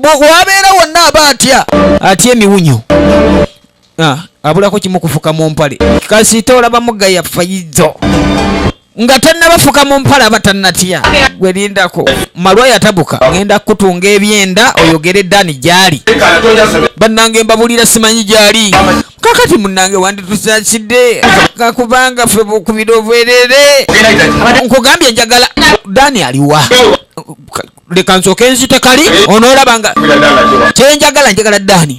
wabeera wonna aba atya atya emiwunyo ah, abulako kimu kufuka mu mpale kasita olaba mugaya fayizo nga tannabafuka mu mpale aba tannatya gwelindako malwa yatabuka ngenda kukutunga ebyenda oyogere dani gyali bannange mbabulira simanyi gyali kakati munange wanditusakidde kakubanga fe bukubira obwerere nkugambye njagala dani aliwa leka nsoke nzite kali onoolaba nga kyenjagala njagala daani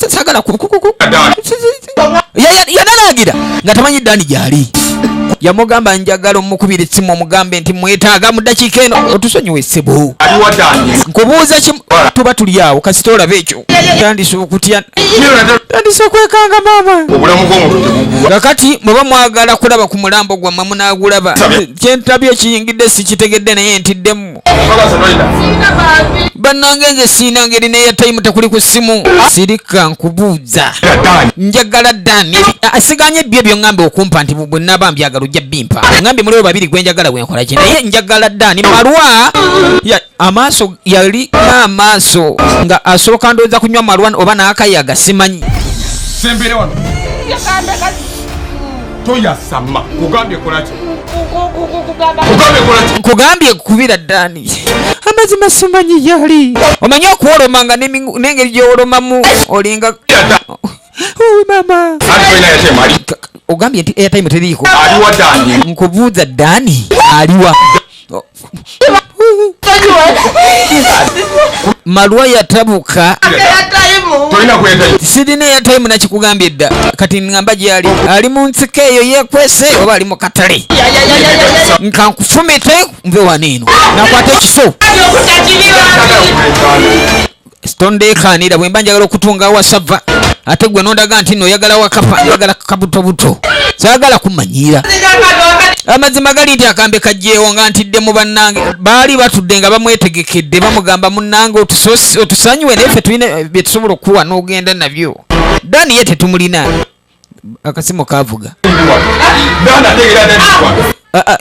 sagala yanalagira nga tamanyi daani gyali yamugamba njagala omukubira essimu omugambe nti mwetaaga mu dakiika eno otusonyiwa essebo nkubuuza kimu tuba tuli awo kasita olaba ekyo tandisa okutya tandisa kwekanga maama nga kati muba mwagala kulaba ku mulambo gwammwe munagulaba kyentabye ekiyingidde sikitegedde naye ntiddemu bannange nze siina ngeri neya tayimu tekuli ku ssimu sirika nkubuuza njagala dani asiganye ah, ah, byo byoŋambe okumpa nti bwe naba mbyagala ojja bimpa ŋambe muliwo babiri gwenjagala gwenkola ki naye njagala dani malwa amaaso yali amaaso nga asooka ndowooza kunywa malwan oba n'akayaga simanyi sembere wano toyasama kugambye kolaki nkugambye kubira dani amazima simanyi yali omanyi okuwoloma nga n'engeri gyewolomamu olinga mama ogambye nti airtime teriiko nkubuuza dani aliwa malwa yatabuka sirina eyatayimu nakikugambye dda kati ngamba gyali ali mu nsika eyo yekwese oba ali mu katale nkankufumite nve wano eno nakwata ekiso stondeekaanira bwe mba njagala okutunga wasava ate gwe nondaga nti no oyagala wakafa oyagala kabutobuto saagala kumanyiira amazima gali nti akambe kajjeewo nga ntidde mu bannange baali batudde nga bamwetegekedde bamugamba munnange otusonyiwe naye fe tulina bye tusobola okukuwa n'ogenda nabyo dani ye tetumulina akasimu kavuga ah, ah,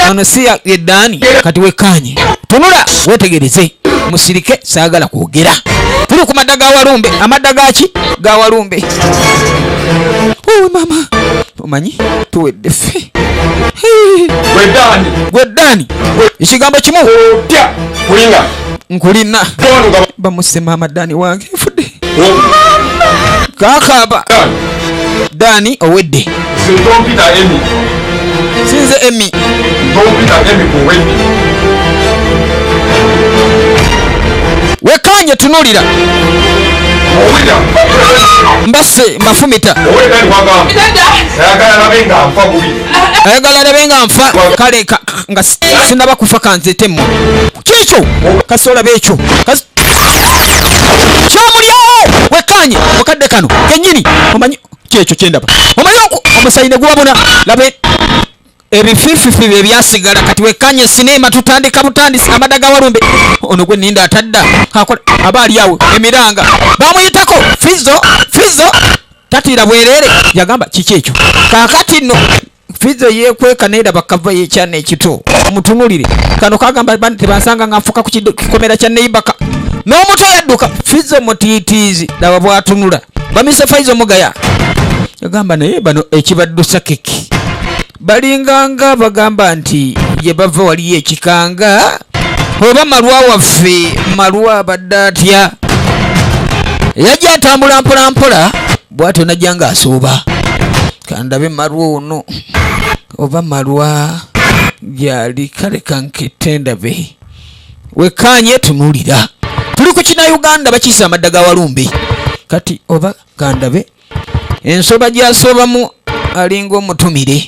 ono si ye daani kati wekkaanye tunula wetegereze musirike saagala kwogera tuli ku madda ga walumbe amadda gaki ga walumbe owe mama omanyi tuwedde ffe gwe daani ekigambo kimu nkulina bamusema amaddaani wange nfudde kakaba dani owedde sinze emi wekanye tunulira mbase mbafumita ayagala nabe nga nfa kale nga si- sinaba kufa kanzete mmwe kyekyo kasita olaba ekyo Kasi- kyamulyawo wekkaanye mu kadde kano kennyini omanyi kyekyo kyendaba omanyi oku- omusayi ne guwabona laba e- ebifififi bye byasigala kati wekkaanye sineema tutandika butandisi amada ga walumbe ono gwe ninda atadda akola aba ali awo emiranga bamuyitako fizo fizo tatiira bwereere yagamba kiki ekyo kakati nno Fizo yekweka neda bakava ye chane ekito mutunulire kano kagamba bani tebasanga nga nfuka ku kikomera kya neighbor ka n'omuto yadduka Fizo mutiitiizi laba bwatunula bamise Faizo mugaya yagamba naye bano ekibaddusa kiki balinganga bagamba nti gye bava waliyo ekikanga oba malwa waffe malwa abadde atya yajja atambula mpolampola bwatyo najja nga asuuba kandabe malwa ono oba malwa gyali kale kankete ndabe wekanye tunulira tuli ku kina uganda bakiisa amadda ga walumbe kati oba kandabe ensoba gyasobamu alinga omutumire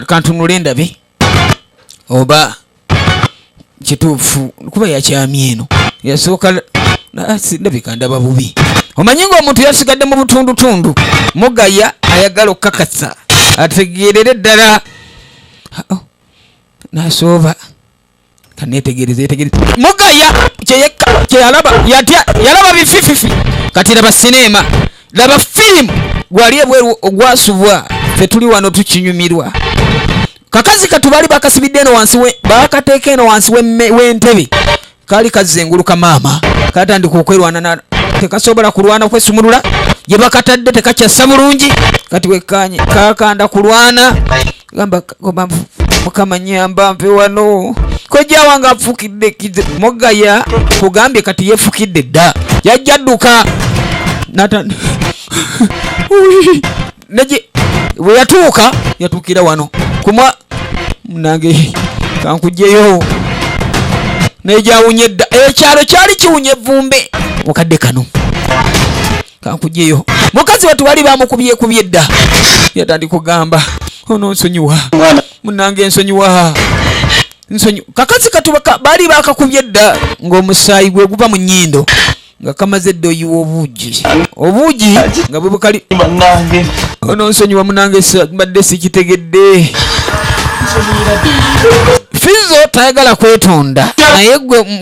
kantunule ndabe oba kituufu kuba yakyamye eno yasooka ndabika ndaba bubi omanyi ng'omuntu yasigadde mu butundutundu mugaya ayagala okukakasa ategeerere ddala nasooba oh, kanetegereza yetegereza mugaya kyeyekka kyeyalaba yatya yalaba bifififi kati laba sineema laba firimu gwali ebweru ogwasubwa fe tuli wano tukinyumirwa kakazi katu baali bakasibidde eno wansi bakateeka eno wansi w'entebe kaali kazzenguluka maama katandika okwerwana tekasobola kulwana kwesumulula gye bakatadde tekakyassa bulungi kati wekkaanye kakanda kulwana gamba gamba mukama nyamba mpe wano kojja wange afukidde kize mogaya kugambye kati yefukidde dda yajja dduka nata neje bwe yatuuka yatuukira wano kumwa munange kankujjeyo naye gyawunye dda ekyalo kyali kiwunye evvumbe mukadde kano kankujeyo mukazi watu bali bamukubye kubye dda yatandi kugamba ono nsonyiwa munange nsonyiwa nsonyi kakazi katubaka bali bakakubye dda ng'omusaayi gwe guva mu nyindo nga kamaze dda oyiwa obuugi obuugi nga bwe bukali ono nsonyiwa munange mbadde sikitegedde fizo tayagala kwetonda naye gwe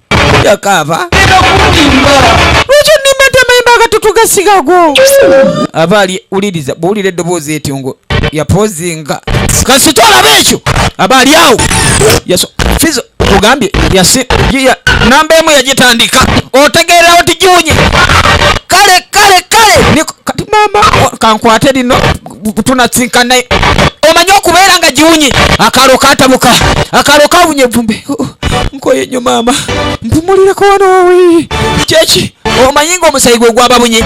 yakaaba lwaki onnimba nti amayimba agatutu gasigago aba ali wuliriza bwowulira eddoboozi etyo ngo yapozinga kasita olaba ekyo aba ali awo fizo ogambye namba emu yagitandika otegeerawo tigiwunye kale kale kale kati mama kankwate lino tunasinka naye omanyi okubeera nga giwunye akalo katabuka akalo kawunye evumbe oh, oh, nkoye nyo maama mpumulireko wano wawi kyeki omanyi nga omusayi gwe gwababunye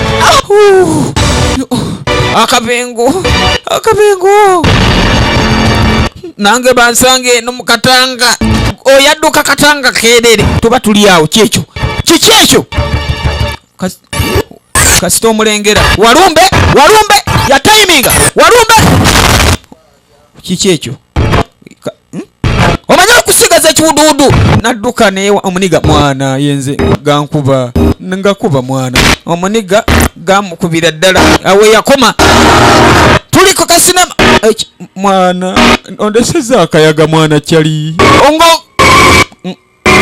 akabengo akabengo nange bansanga eno mukatanga oyadduka katanga kerere tuba tuli awo kyekyo kikyekyo kasita omulengera walumbe walumbe yatayiminga walumbe kiki ekyo hmm? omanyi okusigaza ekiwuduwudu nadduka naye omuniga mwana yenze gankuba ngakuba mwana omuniga gamukubira ddala awe yakoma tuli ku kasinema mwana ondeseza akayaga mwana kyali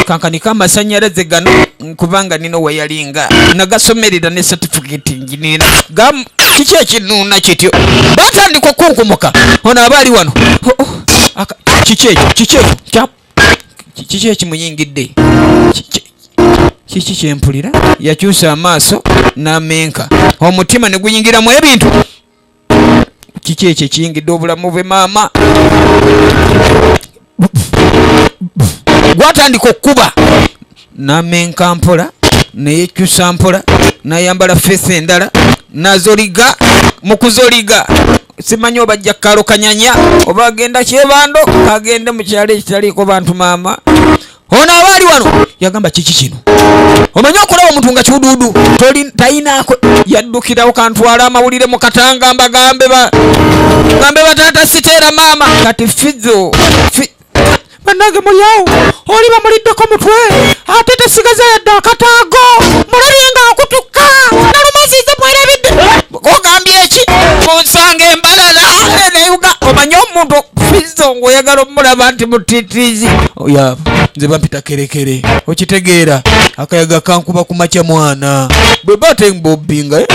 kankaniko amasanyalaze gano kubanga nina oweyalinga nagasomerera ne satifiketi njinina kiki ekinuuna kityo batandika okunkumuka ono aba ali wano oh, oh. kiki ekyo kiki ekyo kiki ekimuyingidde kiki kyempulira yakyusa amaaso n'amenka omutima ne guyingiramu ebintu kiki ekyo ekiyingidde obulamu bwe maama gwatandika okukuba namenka mpola neyekyusa mpola nayambala feesi endala nazoliga mukuzoliga simanyi oba ajja kukalukanyanya oba agenda kyebando agende mu kyalo ekitaliiko bantu maama ono aba ali wano yagamba kiki kino omanyi okulaba omuntu nga kiwuduudu tayinaako yaddukirawo kantwala amawulire mu katanga mbagambe gambe bataata siteera maama kati fizo banange mulyawo oli bamuliddeko mutwe ate tesigaza yadde akataago mulabye nga akutukka nalumaziza mwerebidde ogambye eki munsanga embalala neyuga omanye omuntu okufiza nga oyagala omulaba nti mutitizi oya nze bampita kerekere okitegeera akayaga kankuba ku makya mwana bwe bate mbobinga eh,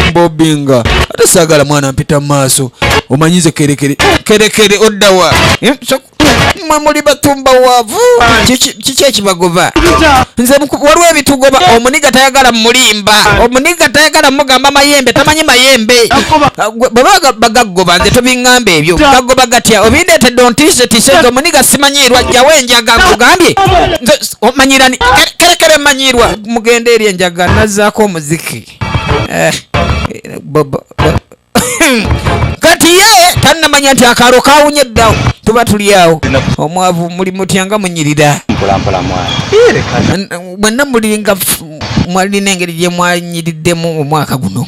mbobinga ate saagala mwana mpita mu maaso omanyize kerekere kerekere oddawa eh, mwe muli batumba wavu kiki ekibagoba nze waliwo ebitugoba omuniga tayagala mulimba omuniga tayagala mugamba mayembe tamanyi mayembe bwebaba bagagoba nze tobingamba ebyo gagoba gatya obindetedde ontise tise nze omuniga simanyiirwa jjawo enjaga nkugambye omanyirani kerekere manyirwa mugenda eri enjaga nazaako omuziki eh, eh, kati ye tanamanya nti akaalo kawunye eddawo tuba tuli awo omwavu muli mutya nga munyirira mwenna mulinga mwalina engeri gye mwanyiriddemu omwaka guno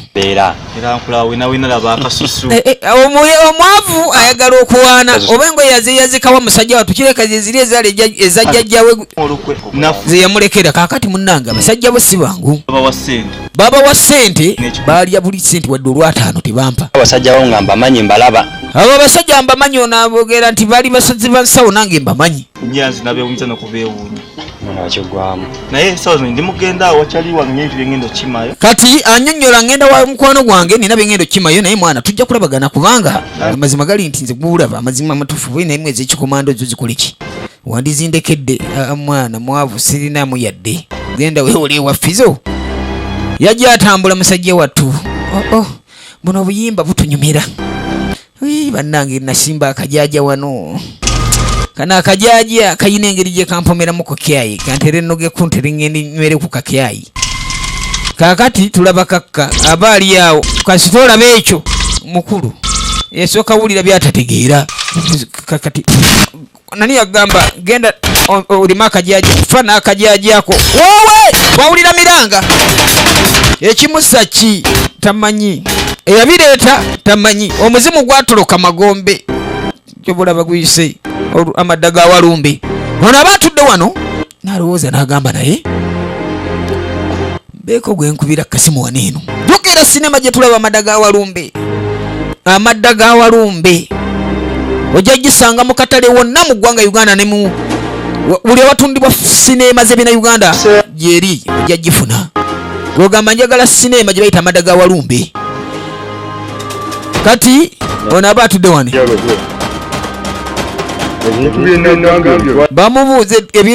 eh, eh, omwavu ayagala okuwaana oba engoye yazeyazikawa musajja watu kireka zeziri ezajjajjawe zeyamulekera kakati munange abasajja bo si bangu babawa sente baalya buli sente wadde olwataano tebampa abasajja bawo nga mbamanyi mbalaba abo abasajja mbamanyi onabogera nti bali basazi ba nsawo nange mbamanyi nyanzi nabewunyiza nokubeewuunya nakigwamu naye esawo zino ndi mugenda wakyali wange nyo ebintu byengenda okimayo kati anyonyola ngenda wa mukwano gwange nina byengenda okimayo naye mwana tujja kulabagana kubanga amazima gali nti nze gulaba amazima amatufu bwe naye mwezi ekikomando zo zikoleki wandizindekedde ah, mwana mwavu sirinamu yadde genda wewole ewafizo yajja atambula musajja wattu oh, oh. buno obuyimba butunyumira bannange nasimba akajaja wano kano akajaja kayina engeri gye kampomeramu ku kyayi kantere noge kuntere ngendi nywere ku kakyayi kakati tulaba kakka aba ali awo kasita olaba ekyo mukulu esooka wulira byatategeera kakati nani yagamba genda olima akajaji fa n'akajaji ako wowe wawulira miranga ekimusa ki tamanyi eyabireeta tamanyi omuzimu gwatoloka magombe kyobulaba guyise amadda ga walumbe ono aba atudde wano nalowooza n'agamba naye beeko gwenkubira kasimu wano eno jukira sinema gyetulaba amadda ga walumbe amadda ga walumbe ojja gisanga mu katale wonna mu ggwanga uganda ne mu buli awatundibwa sineema zebina uganda gyeri ojja gifuna gwogamba njagala sineema gye bayita amadda ga walumbe kati ono aba atudde wani bamubuuza ebintu